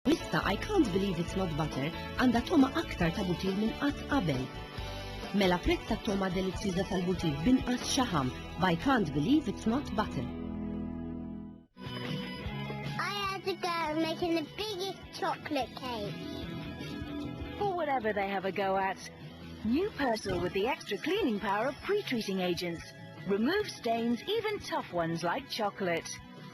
L-lista I Can't Believe It's Not Butter għandha togħma aktar ta' butir minn qatt qabel. Mela prezz tat-togħma delizzjuża tal-butir b'inqas xaħam b'I Can't Believe It's Not Butter. I had a go making the biggest chocolate cake. For whatever they have a go at, New Persil with the extra cleaning power of pre-treating agents. Remove stains, even tough ones like chocolate.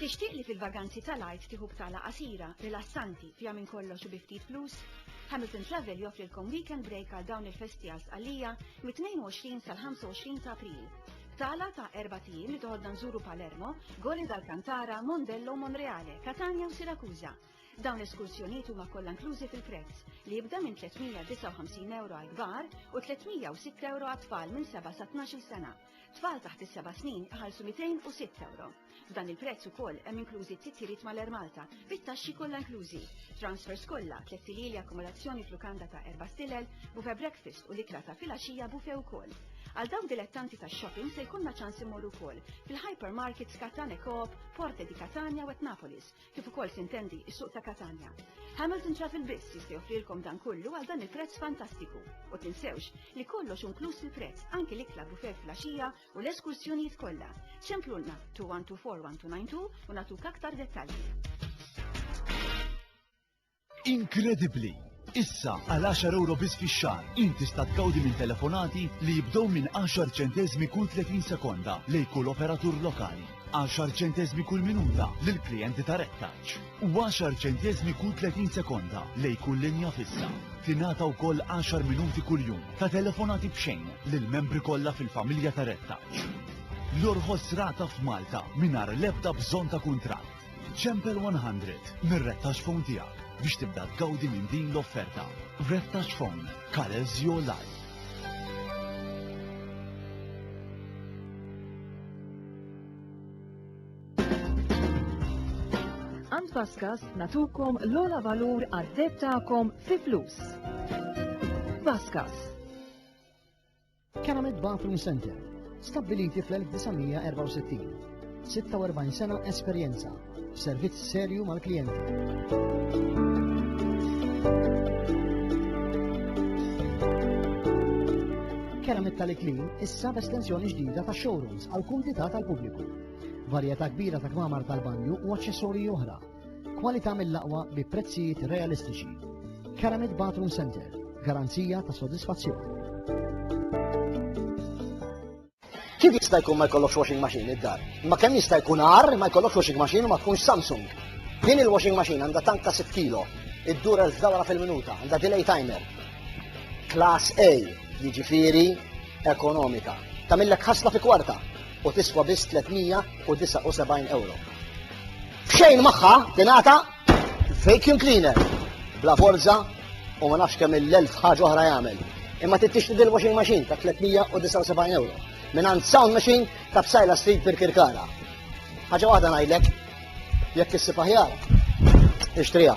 Tixtieq li fil-vaganzi tal-Għid tieħu btala qasira, rilassanti, fiha minn kollox u bi ftit flus? Hamilton Travel joffrilkom weekend break għal dawn il-festi għal Sqallija mit-22 sal-25 ta' April. Btala ta' erbat ijiem li toħodna nżuru Palermo, Gole d'Alcantara, Mondello, Monreale, Catania u Siracusa. Dawn l-eskursjonijiet huma kollha inklużi fil-prezz, li jibda minn €359 għall-kbar u €306 għat-tfal minn seba' sa tnax-il sena. Tfal taħt is-seba' snin iħallsu 206 ewro. F'dan il-prezz ukoll hemm inklużi t-titjiriet mal-Air Malta, bit-taxxi kollha inklużi, transfers kollha, tliet silili akkomodazzjoni f'lukanda ta' erba' stilel, buffet breakfast u l-ikla ta' filgħaxija buffet ukoll. Għal dawk dilettanti tax-shopping se jkollna ċans immorru wkoll fil-hypermarkets Catane Coop, Porte di Catania u Etnapolis, kif ukoll tintendi s-suq ta' Katanja. Hamilton Travel biss jista' joffrilkom dan kollu għal dan il-prezz fantastiku. U tinsewx li kollox inkluż fil-prezz, anki l-ikla bufè filgħaxija u l-eskursjonijiet kollha. Ċemplulna 2124 1292 u nagħtuk aktar dettalji. Inkredibbli! Issa, għal għaxar ewro biss fix-xahar, int tista' tgawdi minn telefonati li jibdew minn għaxar ċenteżmi kull 30 sekonda lejn kull operatur lokali, għaxar ċenteżmi kull minuta lil klijenti ta' Red Touch, u għaxar ċenteżmi kull 30 sekonda lejn kull linja fissa. Tingħata wkoll għaxar minuti kuljum ta' telefonati b'xejn lill-membri kollha fil-familja ta' Red Touch. L-orħos rata f'Malta mingħajr l-ebda bżonn ta' kuntratt. Ċempel 100 mir-red touch phone tiegħek biex tibda tgawdi minn din l-offerta. Red Touch Phone, colors your life. Ant Paskas natukom l-ola valur għad-deb ta'kom fi flus. Paskas. Keramet Bathroom Center, stabbiliti fl-1964. 46 sena esperjenza, servizz serju mal-klijenti. Keramet tal-iklim issa b'estensjoni ġdida ta' showrooms għal kumdità tal-pubbliku. Varjetà kbira ta' kmamar tal-banju u aċċessorji oħra Kwalità mill-aqwa bi prezzijiet realistiċi. Karamid Bathroom Center, garanzija ta' sodisfazzjon. Kif jista' jkun ma jkollokx washing machine id-dar? Ma kemm jista' jkun għar ma jkollokx washing machine u ma tkunx Samsung. Din il-washing machine għandha tank ta' 6 kilo, id-dur elf dawra fil-minuta, għandha delay timer. Class A, jiġifieri ekonomika. Tamillek ħasla fi kwarta. u tiswa biss 379 ewro. B'xejn magħha tingħata vacuum cleaner bla forza u ma nafx kemm il-elf ħaġa oħra jagħmel. Imma trid tixtri dil washing machine ta' 379 ewro. Minn għand sound machine ta' bsajla street per kirkara. Ħaġa waħda ngħidlek, jekk issib aħjar, ixtriha.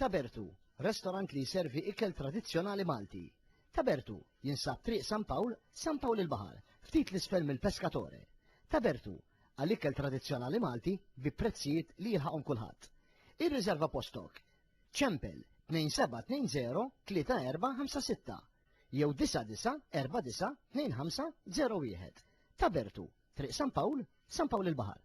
Tabertu, restorant li jservi ikel tradizzjonali Malti. Tabertu, jinsab Triq San Pawl, San Pawl il-Baħar, ftit 'l isfel mill-Pescatore. Tabertu, għal ikel tradizzjonali Malti bi prezzijiet li jilħaqhom kulħadd. Irriżerva postok. Ċempel 2720 3456 jew 9949 2501. Tabertu, Triq San Pawl, San Pawl il-Baħar.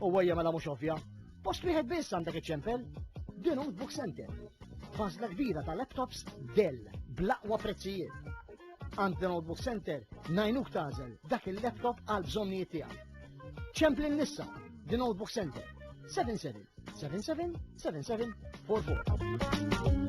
U għajja mela mhux ovvja, post wieħed biss għandek iċ-ċempel, The Notebook Center. Fażla kbira ta' laptops Dell bl-aqwa prezzijiet. Għand The Notebook Center najnuk tażel dak il-laptop għal bżonnijiet tiegħek. Ċempli nissa The Notebook Center 77 77 77 44.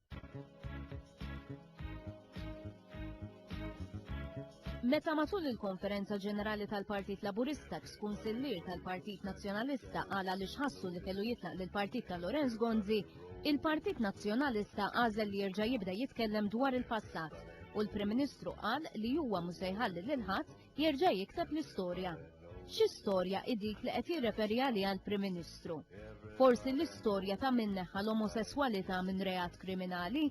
Meta matul il-konferenza ġenerali tal-Partit Laburista kunsillier tal-Partit Nazzjonalista għala li xħassu li kellu jitlaq lil partit ta' Lorenz Gonzi, il-Partit Nazzjonalista għażel li jerġa' jibda jitkellem dwar il-passat u l-Prim Ministru qal li huwa mhux se jħalli lil ħadd jerġa' jikteb l-istorja. Xi storja hi dik li qed jirreferi għaliha l-Prim Ministru? Forsi l-istorja ta' min neħħa l-omosesswalità minn reat kriminali?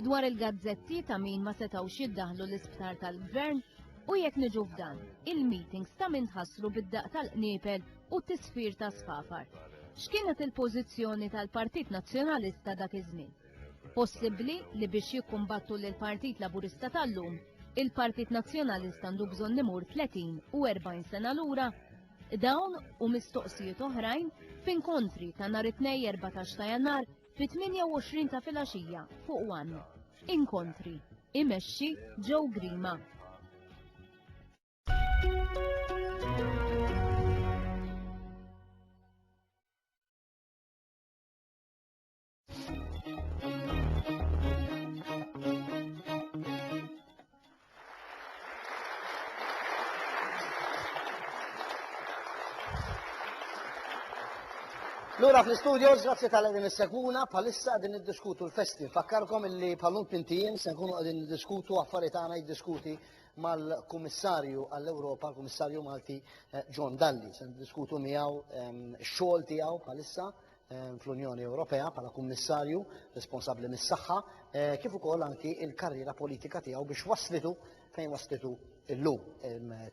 Dwar il-gazzetti ta' min ma setgħux jiddaħħlu l-isptar tal-Gvern? U jekk niġu f'dan, il-meetings ta' min tħassru bid-daqq tal-qniepel u t-tisfir ta' sfafar? X'kienet il-pożizzjoni tal-Partit Nazzjonalista dak iż-żmien? possibbli li biex jikkumbattu lill-Partit Laburista tal-lum, il-Partit Nazzjonalista għandu bżonn imur 30 u 40 sena lura? Dawn u mistoqsijiet oħrajn f'inkontri ta' nhar it-Tnejn 14 ta' Jannar fit-28 ta' filgħaxija fuq one. Inkontri. Imexxi Joe Grima. Lura fl-studios, grazzi tal din is-segwuna, bħalissa din niddiskutu l-festi. Fakkarkom illi bħallum tintijiem se nkunu qegħdin niddiskutu affarijiet għana jiddiskuti mal-Kummissarju għall-Ewropa, l-Kummissarju Malti eh, John Dalli. Se niddiskutu miegħu ehm, xogħol tiegħu bħalissa fl-Unjoni Ewropea bħala Kummissarju responsabbli mis-saħħa, eh, kif ukoll anki il-karriera politika tiegħu biex waslitu fejn waslitu illum.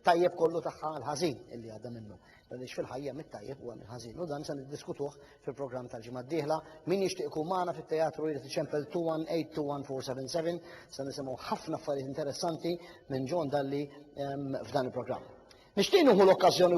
Tajjeb kollu tagħha l-ħażin illi għadda minnu. Għaliex fil-ħajja mit-tajjeb u l-ħażin. U dan se niddiskutuh fil-programm tal-ġimgħa d-dieħla. Min jixtieq ikun magħna fit-teatru jrid iċempel 218-21477 se nisimgħu ħafna affarijiet interessanti minn John Dalli ehm, f'dan il-programm. Nixtieq nieħu l-okkażjoni